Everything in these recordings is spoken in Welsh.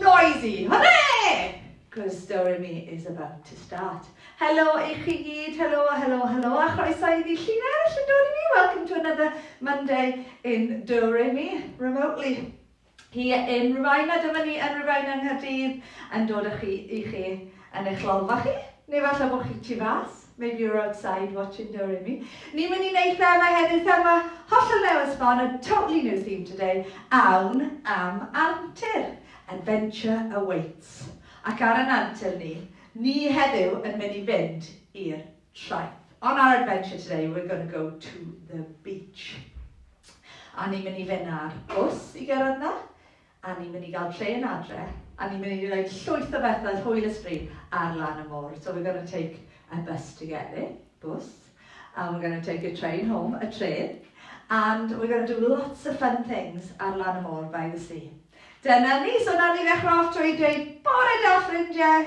Noisy! Hwre! Cos Do Re Mi is about to start. Helo i chi gyd, helo, helo, helo, a chroeso i ddi llinell yn Do Re Mi. Welcome to another Monday in Do Re Mi, remotely. Here in Rhyfaina, dyma ni yn Rhyfaina Nghaerdydd, yn dod â chi i chi yn eich lolfa chi, neu falle bod chi tu fas. Maybe you're outside watching Do Re Mi. Ni'n mynd i wneud thema heddiw, thema hollol newydd sbon, a totally new theme today, awn am antur. Adventure awaits. Ac ar yn antur ni, ni heddiw yn mynd i fynd i'r traeth. On our adventure today, we're going to go to the beach. A ni'n mynd i fynd ar bws i gyrraedd na, A ni'n mynd i gael trên adre, a ni'n mynd i wneud llwyth o bethau hwyl a sbri ar lan y môr. So we're gonna take a bus to get there, bws, and we're gonna take a train home, y trên, and we're gonna do lots of fun things ar lan y môr by the sea. Dyna ni, so nawr ni ddechrau off trwy dweud bore da ffrindiau,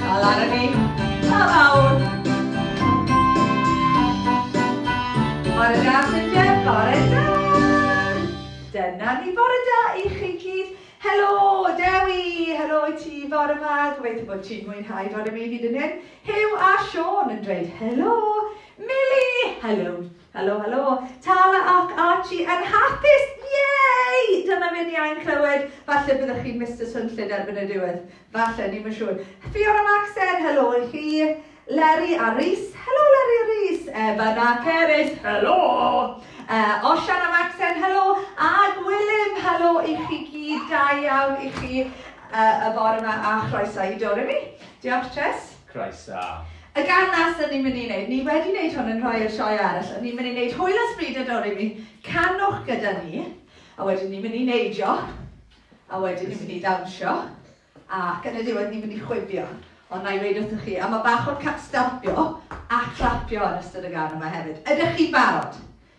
Dal ar y byd, pa mawr! Bore da, ffrindiau, bore da! Dyna ni, bore da i chi gyd. Helo, Dewi! Helo i ti, fore ma. Gobeithio bod ti'n mwynhau fore mi hyd yn hyn. Huw a Siôn yn dweud helo. Mili, helo. Helo, helo! Tala ac Archie yn hapus! Yay! Dyna fe ni ain clywed. Falle byddwch chi'n Mister Swnllyd erbyn y diwedd. Falle, ni'm yn siŵr. Fiona Maxen, helo i chi. Leri a Rhys. Helo Leri a Rhys. Evan a Cerys, helo! Uh, Osian a Maxen, helo! A Gwilym, helo i chi gyd. Da iawn i chi uh, y bore yma a chroeso i Doremi. Diolch, Chess. Croeso! Y gân nas o'n i'n mynd i neud, ni wedi neud hwn yn rhoi i'r sioe arall, o'n i'n mynd i neud Hwyl a Sbri da Dori mi, canwch gyda ni, a wedyn ni'n mynd i neidio, a wedyn ni'n mynd i ddawnsio, ac yn y diwedd ni'n mynd i chwifio. Ond na i weud wrthych chi, a mae bach o'r ca- stopio a clapio yn ystod y gân yma hefyd. Ydych chi barod?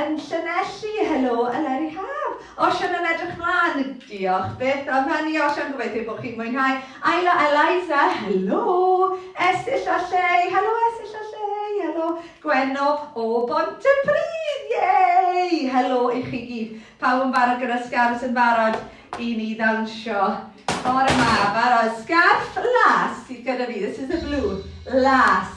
Yn Llanelli, helo Eleri Haf! Osian yn edrych mlan! Diolch byth am hynny Osian, gobeithio bod chi'n mwynhau! Ayla Eliza, helo! Esill a Llei, helo Esill a Llei! Helo Gwenno o Bontypridd! Yay! Helo i chi gyd! Pawb yn barod gyda'r sgarfs yn barod i ni ddawnsio bore yma, barod? Sgarff las sydd gyda fi, this is the blue, las.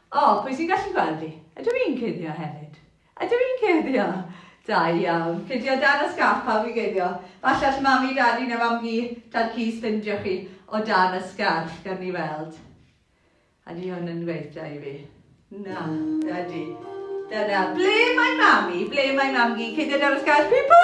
O, pwy sy'n gallu gweld fi? Ydw i'n cuddio hefyd? Ydw i'n cuddio? Da iawn. Cuddio dan y sgarff, pawb i guddio. Falle all mami, dadi neu mam-gu dal ci sbindio chi o dan y sgarff, gan ni weld. Ydy hwn yn gweithio i fi? Na, ydy. Dyna, ble mae mami? Ble mae mam-gu? Cuddio dan y sgarff, pipo!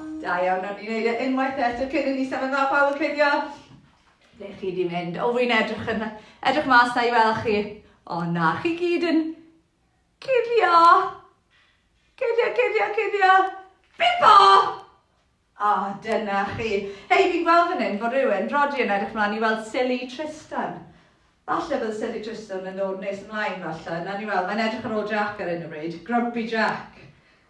Da iawn, o'n i'n neud e unwaith eto cyn i ni symud fel pawb yn cuddio. Ble chi di mynd? O, fi'n edrych yn edrych mas na i weld chi. O na, chi gyd yn cuddio. Cuddio, cuddio, cuddio. Bipo! O, dyna chi. Hei, fi'n gweld fan hyn fod rhywun, Rodi yn edrych mlaen i weld Silly Tristan. Falle bydd Silly Tristan yn dod nes ymlaen falle. Na ni weld, mae'n edrych ar ôl Jack ar hyn o bryd. Grumpy Jack.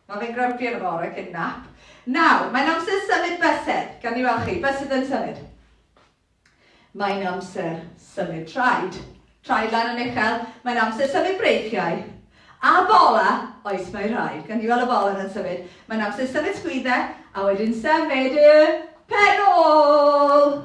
Mae fe'n grumpy yn y bore cyn nap. Nawr, mae'n amser symud bysedd. Gawn ni weld chi. Bysedd yn symud. Mae'n amser symud traed. Traed lan yn uchel. Mae'n amser symud breichiau. A bola, oes mae rhai. Gawn ni weld y bola yn symud. Mae'n amser symud sgwyddau a wedyn symud y penol.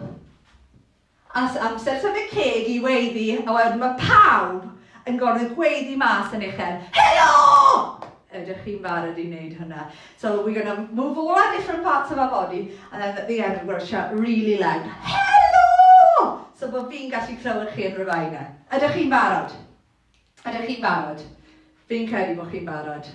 As amser tyfu ceg i weiddi a wedyn mae pawb yn gorfod gweiddi mas yn uchel, Helo! Ydych chi'n barod i wneud hwnna? So we're going to move all our different parts of our body and then at the end we're going to shout really loud, Helo! So bod fi'n gallu clywed chi yn Rhyfaina. Ydych chi'n barod? Ydych chi'n barod? Fi'n credu bod chi'n barod.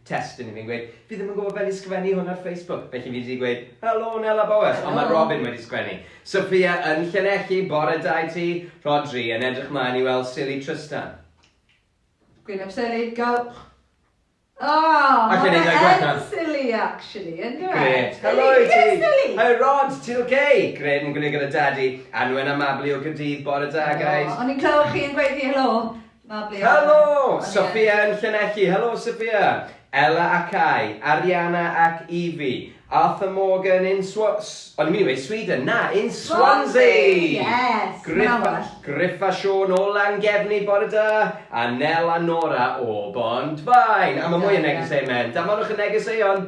testun i fi'n gweud, fi ddim yn gwybod fel i sgwennu hwn ar Facebook, felly fi wedi gweud, helo Nela Bowes, Helo! ond mae Robin wedi sgwennu. Sophia yn Llanelli, bore da i ti. Rhodri yn edrych mlaen i weld Silly Trystan. Gwyn ap Seli, go! Aww, Alla i mae wneud e gwell fe na- yn silly actually, yn dyw e? Grêt, helo i ti! Silly, silly! Hi Rod, ti'n oce? Grêt, yn gwneud gyda Dadi. Anwen a Mabli o Gaerdydd, bore da guys. O, o'n i'n clywed chi yn gweud fi helo. Helo! Sophia yn Llanelli, Helo Sophia! Ella a Cai, Ariana ac Evie, Arthur Morgan in Swa-, s-, o'n i'n mynd i weud Sweden, na, in Swansea! Griff a Siôn o Langefni, bore da, a Nel a Nora o Bont-faen. A mae mwy yn negeseuon mewn, danfonwch y negeseuon!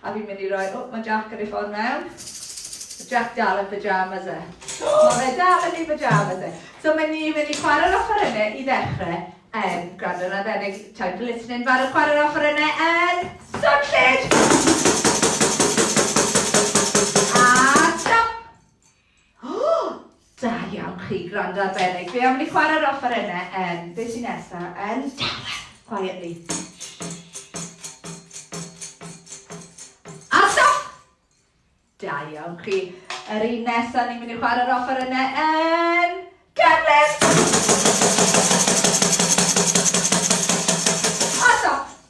A fi'n mynd i roi... O, mae Jac yn ei ffordd mewn. Mae Jac dal yn pyjamas e. Mae fe dal yn ei pyjamas e. So mae ni'n mynd i chwarae'r offerynnau i ddechrau yn gwrando na ddenig. Time for listening, fan y chwarae'r offerynnau yn Swnllyd! Da iawn chi, gwrando arbennig. Fi am ni chwarae'r offerynnau yn, be sy'n nesa, yn dawel, quietly. A stop! Da iawn chi. Yr un nesa, ni'n mynd i chwarae'r offerynnau yn cefnus! A stop!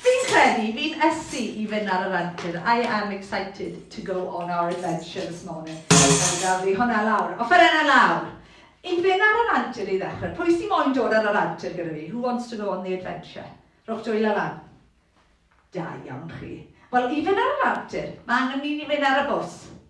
Fi'n credu fi'n ysu i fyn ar yr antur, I am excited to go on our adventure this morning. Reit, gaf fi hwnna lawr. Offerenna lawr! I fyn ar yr antur i ddechrau. Pwy sy moyn dod ar yr antur gyda fi? Who wants to go on the adventure? Rhowch dwylo lan. Da iawn chi. Wel, i fyn ar yr antur, mae angen i ni fyn ar y bws.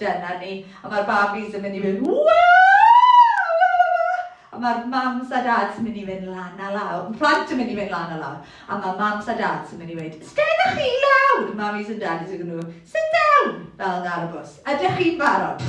Dyna ni, a mae'r babis yn mynd i fynd waa! A mae'r mams a dads yn mynd i fynd lan a lawr. Mae plant yn mynd i fynd lan a lawr. A mae mams a dads yn mynd i weid, Ysteg â chi lawr! Mamis and daddies are going to go, sit down! Fel yna ar y bws. Ydych chi'n barod?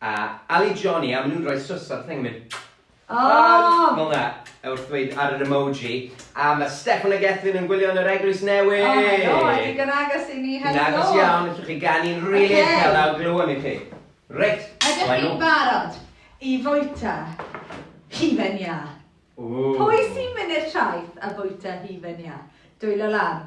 A Ali Johnny a ma nhw'n rhoi swss ar y thing yn mynd Ohh! Fel 'na wrth ddweud ar yr emoji A ma' Steffan a Gethin yn gwylio yn yr eglwys newydd! O helo! Ie digon agos i ni helo! Digon agos iawn, allwch chi ganu'n rili uchel a glywem i chi. Reit! Ydych chi'n barod i fwyta hufen iâ? Ww! Pwy sy'n mynd i'r traeth a bwyta hufen iâ? Dwylo lan.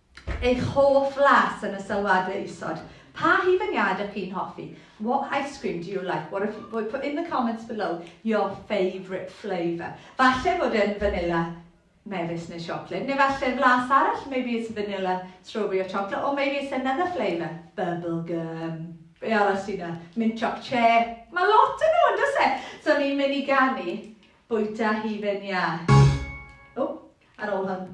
Eich hoff las yn y sylwadau isod. Pa hufen-iâd ych chi'n hoffi? What ice cream do you like? What if, put in the comments below your favourite flavour. Falle fod e'n fanilla mefus neu siocled, neu falle flas arall, maybe it's vanilla, strawberry or chocolate, or maybe it's another flavour, bubble gum. Be arall sy'n na? Mint choc che. Mae lot yn nhw, does e? So ni'n mynd i ganu bwyta hufen iâ. O, ar ôl hwn.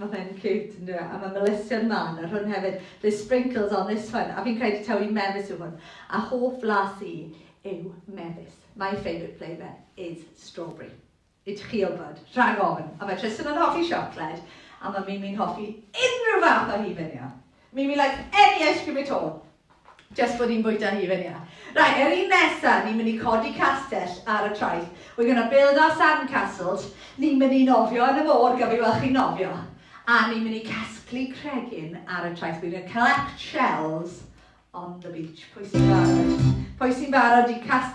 Mae fe'n ciwt yndyw e? A mae melysion mân ar hwn hefyd. There's sprinkles on this one. A fi'n credu taw i mefus yw hwn. A hoff flas i yw mefus. My favourite flavour is strawberry. I chi wybod. Rhag ofn. A mae Tristan yn hoffi siocled. A mae Mimi'n hoffi unrhyw fath o hufen iâ. Mimi likes any ice cream at all. Jyst bod hi'n bwyta hufen iâ. Reit, yr un nesa, ni'n mynd i codi castell ar y traeth. We're gonna build our sand castles. Ni'n mynd i nofio yn y môr, gaf fi weld chi'n nofio? A ni'n mynd i casglu cregyn ar y traeth. We're gonna collect shells on the beach. Pwy sy'n barod? Pwy sy'n barod i cas-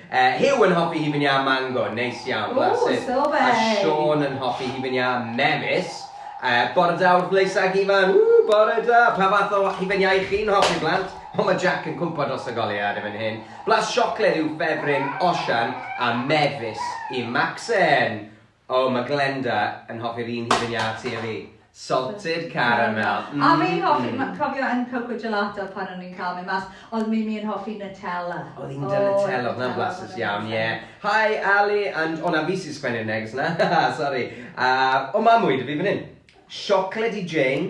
Yy Huw yn hoffi hufen iâ mango, neis iawn, bless him. Ww, so feidd! A Siôn yn hoffi hufen iâ mefus. Yy Bore da wrth Leisa ac Ifan, ww, bore da! Pa fath o hufen iâ y'ch chi'n hoffi, blant? O, mae Jac yn cwmpo dros y goleuad yn fan hyn. Blas siocled yw ffefryn Osian a mefus i Macsen. O, mae Glenda yn hoffi'r un hyd yn iâ ti a fi. Salted caramel. Mmm. A fi'n hoffi, ma- cofio yn Coco Gelato pan o'n ni'n cael mynd mas, oedd Mimi yn hoffi Nutella. Oedd hi'n da Nutella, oedd hwnna'n flasus iawn, ie. Hi Ali, and, o na, fi sy'n sgwennu'r neges 'na, sori. A, o, ma' mwy 'da fi fan hyn. Siocled i Jane,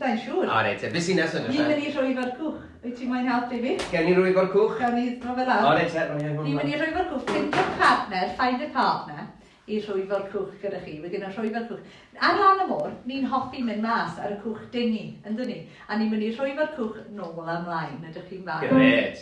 Sai'n siŵr. O reit te, be sy'n neis Ni'n mynd i Rhwyfo'r Cwch. Wyt ti'n moyn helpu fi? Gawn ni Rhwyfo'r Cwch? Gawn ni dro fe lawr? O reit te, rhoi hwn mlaen. Ni'n mynd i Rhwyfo'r Cwch. Ffeindiwch partner, find a partner, i Rhwyfo'r Cwch gyda chi. We're gonna Rhwyfo'r Cwch. Ar lan y môr, ni'n hoffi mynd mas ar y cwch dingy, yndyn ni? A ni'n mynd i Rhwyfo'r Cwch nôl a mlaen. Ydych chi'n barod? Grêt.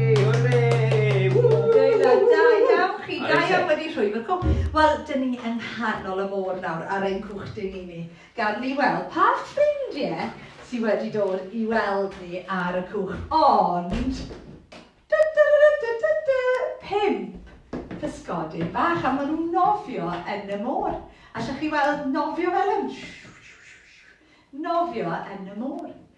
Wel, dyn ni yng nghanol y môr nawr ar ein cwchdy ni ni. Gad ni weld pa ffrindiau sydd wedi dod i weld ni ar y cwch. Ond, da da da da da da, pimp pysgodyn bach a maen nhw'n nofio yn y môr. Allwch chi weld nofio fel hyn? Nofio yn y môr.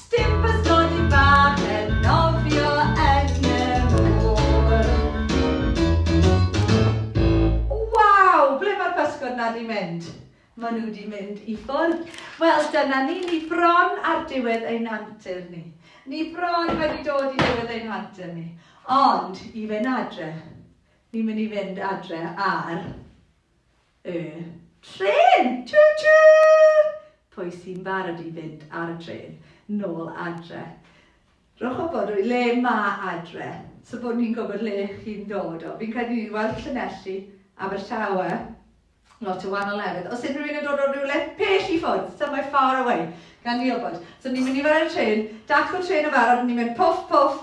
Sdim bysgodi bach yn nofio yn y môr. Waw! Ble mae'r pysgod 'na 'di mynd? Maen nhw 'di mynd i ffwrdd. Wel, dyna ni, ni bron ar diwedd ein hantur ni. Ni bron wedi dod i ddiwedd ein hantur ni. Ond, i fynd adre, ni'n mynd i fynd adre ar Y trên! Tju tju! Pwy sy'n barod i fynd ar y trên nôl adre? Rhowch wybod o le mae adre, so bod ni'n gwybod le chi'n dod o. Fi'n credu ni wedi weld Llanelli, Abertawe, lot o wahanol lefydd. Os unrhyw un yn dod o rywle pell i ffwrdd, somewhere far away, gan ni wybod. So ni'n mynd i fod ar y trên, dacw trên yn barod, ni'n mynd pwff pwff,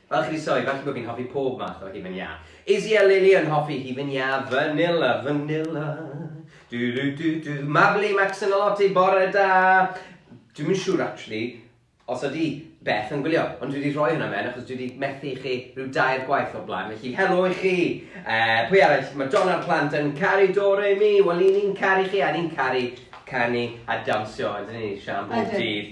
Fel chi di soi, falle bod fi'n hoffi pob math o hufen iâ. Izzy a Lily yn hoffi hufen iâ vanilla, vanilla. Du du du du. Mabli, Max yn Olotti, bore da! Dwi'm yn siŵr actually os ydi Beth yn gwylio, ond dwi wedi rhoi hwnna mewn achos dwi wedi methu i chi rhyw dair gwaith o'r blaen, felly helo i chi! Uh, pwy arall? Mae John a'r plant yn caru Doremi, wel i ni'n caru chi a ni'n caru canu a dawnsio, ydyn ni, Sian bob dydd.